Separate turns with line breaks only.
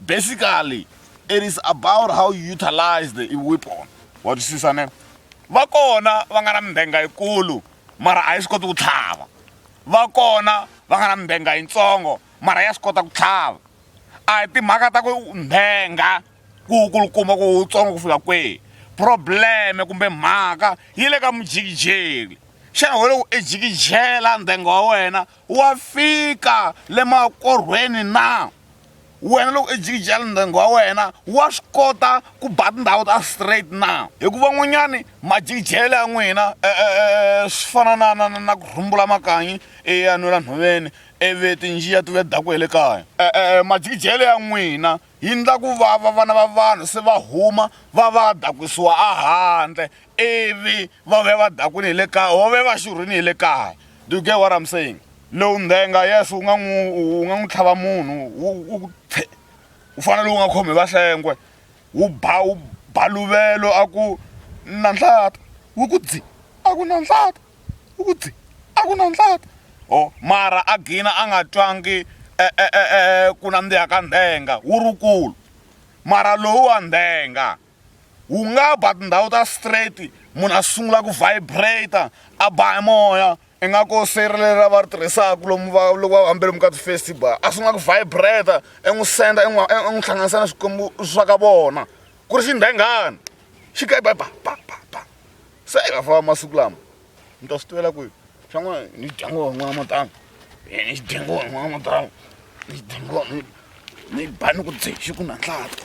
Basically it is about how you utilize the weapon wa twisisa ne va kona va nga na mbenga yikulu mara a yi swi koti ku tlhava va kona va nga na mbenga yitsongo mara ya swi kota ku tlhava a hi timhaka ta ku mbenga ku kulukumba ku wutsongo ku fika kwihi probleme kumbe mhaka yi le ka mujikijeli xana ho loko i jikijela ndhenga wa wena wa fika le makorhweni na wena loko i jikijela ndyangu wa wena wa swi kota ku ba tindhawu ta straight na hikuva n'wanyani majikijele ya n'wina e, e, e, swi fana na na na ku rhumbula makanyi eya nwela nhoveni ivi tinjiya ti ve daku ya le kaya majikijele ya n'wina yi ndla ku vava vana va vanhu se va huma va va dakwisiwa a handle ivi va vuya va dakwini hi le kaya or va vuya va xurhini hi le kaya do you get what i'm saying lowu ndhenga yes wu nga n'wi wu nga n'wi tlhava munhu wu wu wu fanele wu nga khomi vahlengwe wu ba wu baluvelo a ku na nhlata wu ku dzi a ku na nhlata wu ku dzi a ku na nhlata o mara a gina a nga twangi e, e, e, ku nandziha ka ndhenga wu rukulu mara lowu wa ndhenga wu nga ba tindhawu ta straight munhu a sungula ku vibrate a ba hi moya ingaku seyiri leri a va ri tirhisaka lomu va loko va hambele lomu ka ti-festival a sungula ku vibrate i n'wi senda i n'wi i n'wi hlanganisa na swikwembu swa ka vona ku ri xindenghani xi ka ba ba ba ba ba se i va famba masiku lama mi ta swi tivela kwihi swa n'wana ni dya ngoma n'wana matanga ni dya ngoma n'wana matanga ni dya ngoma ni ba ni ku dzexi ku na nhlata